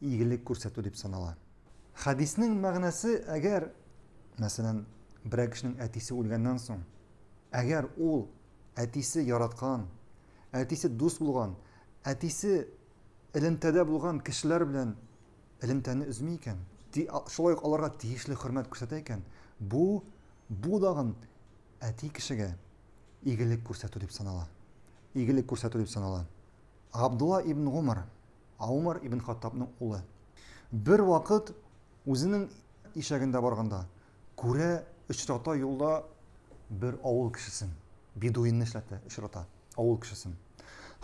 игелек күрсәтү дип санала. Хәдиснең мәгънәсе, әгәр, мәсәлән, берәр кешенең әтисе үлгәннән соң, әгәр ул әтисе яраткан, әтисе дус булган, әтисе элемтәдә булган кешеләр белән элемтәне өзми икән, шулай ук аларга тиешле хөрмәт күрсәтә икән, бу бу дагын әти кешегә игелек күрсәтү дип санала. Игелек күрсәтү дип санала. Габдулла ибн Гомар Ә Умар ибн Хаттабның улы. Бервакыт үзенең ишәгендә барганда, күрә, очрата юлда бер авыл кешесен, бедуинны эшләтә, очрата, авыл кешесен.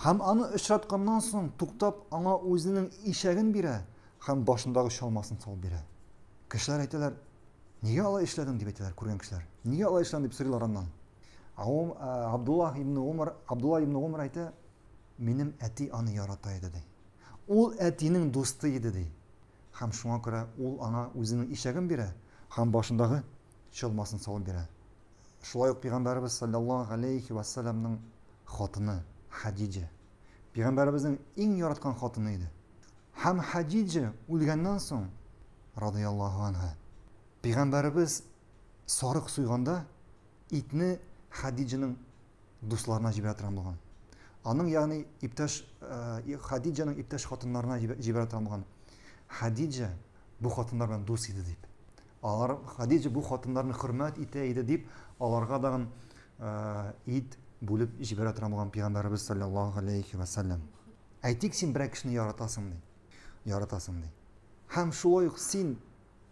Һәм аны очратканнан соң, туктап, аңа үзенең ишәген бирә һәм башындагы чалмасын салып бирә. Кешеләр әйтәләр, нигә алай эшләдең дип әйтәләр, күргән кешеләр. Нигә алай эшләдең дип сорыйлар аннан. Абдулла ибн Умар, Абдулла ибн Умар әйтә, Минем әти аны ярата иде, ди. Ул әтинең дусты иде, ди. Һәм шуңа күрә ул аңа үзенең ишәген бирә һәм башындагы чалмасын салып бирә. Шулай ук пигамбәребез салләллаһу галәйһи вә сәлләмнең хатыны Хәдиҗә пигамбәребезнең иң яраткан хатыны иде. Һәм Хәдиҗә үлгәннән соң, радыяллаһу анһа, пигамбәребез сарык суйганда, итне Хәдиҗәнең дусларына җибәрә торган булган. Аның ягъни иптәш э, Хадиҗаның иптәш хатыннарына җибәрә торган булган. Хадиҗа бу хатыннар белән дус иде дип. Алар Хадиҗа бу хатыннарны хөрмәт итә иде дип, аларга дагын э, ит бүлеп җибәрә торган булган пәйгамбәребез саллаллаһу алейхи ва саллям. Әйтик, син берәр кешене яратасың ди. Яратасың ди. Һәм шулай ук син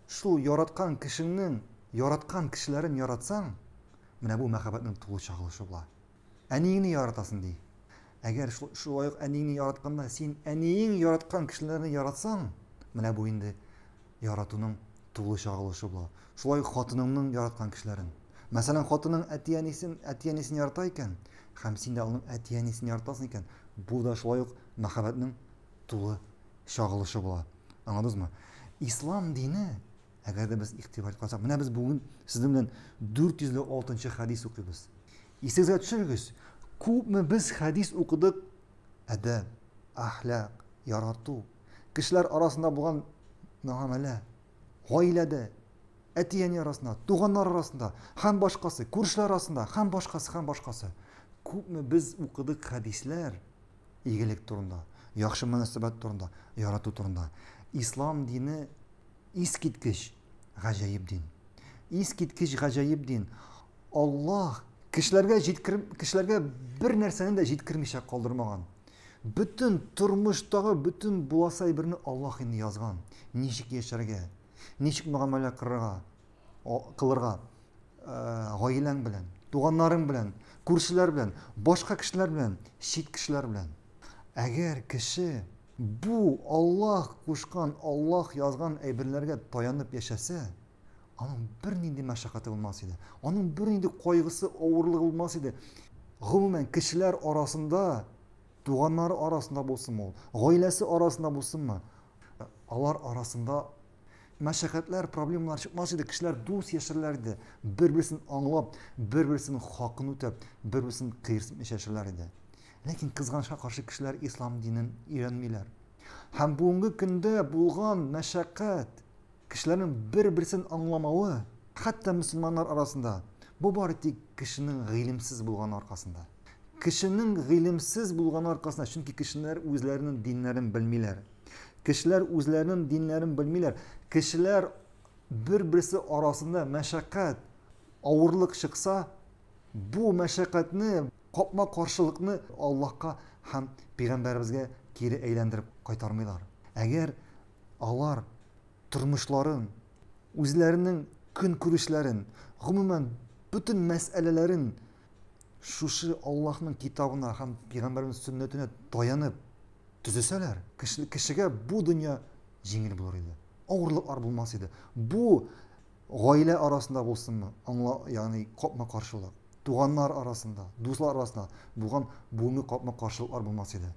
Шул яраткан кешеңнең яраткан кешеләрен яратсаң, менә бу мәхәббәтнең тулы чагылышы була. Әниеңне яратасың, ди. Әгәр шул, шулай ук әниеңне яратканда син әниең яраткан кешеләрне яратсаң, менә бу инде яратуның тулы чагылышы була. Шулай ук хатыныңның яраткан кешеләрен. Мәсәлән, хатының әти-әнисен, әти-әнисен ярата икән, һәм син дә аның әти-әнисен яратасың икән, бу да шулай ук мәхәббәтнең тулы чагылышы була. Аңладыңызмы? Ислам дине, әгәр дә без игътибар кылсак, менә без бүген сезнең белән 406 хәдис укыйбыз. Исегезгә төшерегез, күпме без хәдис укыдык, әдәп, әхлак, ярату, кешеләр арасында булган мөгамәлә, гаиләдә, әти-әни арасында, туганнар арасында, һәм башкасы, күршеләр арасында, һәм башкасы, һәм башкасы. Күпме без укыдык хәдисләр, игелек турында, яхшы мөнәсәбәт турында, ярату турында. Ислам дине искиткеч гаҗәеп дин. Искиткеч гаҗәеп дин. Аллаһ кешеләргә җиткер кешеләргә бер нәрсәне дә җиткермичә калдырмаган. Бөтен тормыштагы бөтен буласы әйберне Аллаһ инде язган. Ничек яшәргә, ничек мөгамәлә кырырга, кылырга. гаиләң белән, туганнарың белән, күршеләр белән, башка кешеләр белән, чит кешеләр белән. Әгәр кеше бу Аллаһ кушкан, Аллаһ язган әйберләргә таянып яшәсә, аның бер нинди мәшәкате булмас иде. Аның бер нинди кайгысы, авырлыгы булмас иде. Гомумән, кешеләр арасында, туганнары арасында булсын ул, гаиләсе арасында булсынмы, алар арасында мәшәкатьләр, проблемалар чыкмас иде, кешеләр дус яшәрләр иде, бер-берсен аңлап, бер-берсен хакын үтәп, бер-берсен кыерсытмыйча яшәрләр иде. Ләкин кызганычка каршы кешеләр ислам динен өйрәнмиләр. Һәм бүгенге көндә булган мәшәкать, кешеләрнең бер-берсен аңламавы, хәтта мөселманнар арасында, бу бары тик кешенең гыйлемсез булганы аркасында. Кешенең гыйлемсез булганы аркасында, чөнки кешеләр үзләренең диннәрен белмиләр. Кешеләр үзләренең диннәрен белмиләр. Кешеләр бер-берсе арасында мәшәкать, авырлык чыкса, бу мәшәкатьне, капма каршылыкны Аллаһка һәм пәйгамбәребезгә кире әйләндереп кайтармыйлар. Әгәр алар тормышларын, үзләренең көнкүрешләрен, гомумән бөтен мәсьәләләрен шушы Аллаһның китабына һәм пигамбәрнең сөннәтенә таянып төзесәләр, кешегә бу дөнья җиңел булыр иде. Авырлыклар булмас иде. Бу гаилә арасында булсынмы, аңла, ягъни капма-каршылык, туганнар арасында, дуслар арасында булган булмый капма-каршылыклар булмас иде.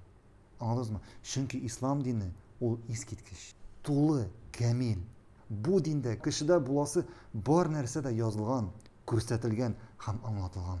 Аңладыңызмы? Чөнки ислам дине ул искиткеч, тулы, камил, Бу диндә кешедә буласы бар нәрсә дә язылган, күрсәтелгән һәм аңлатылган.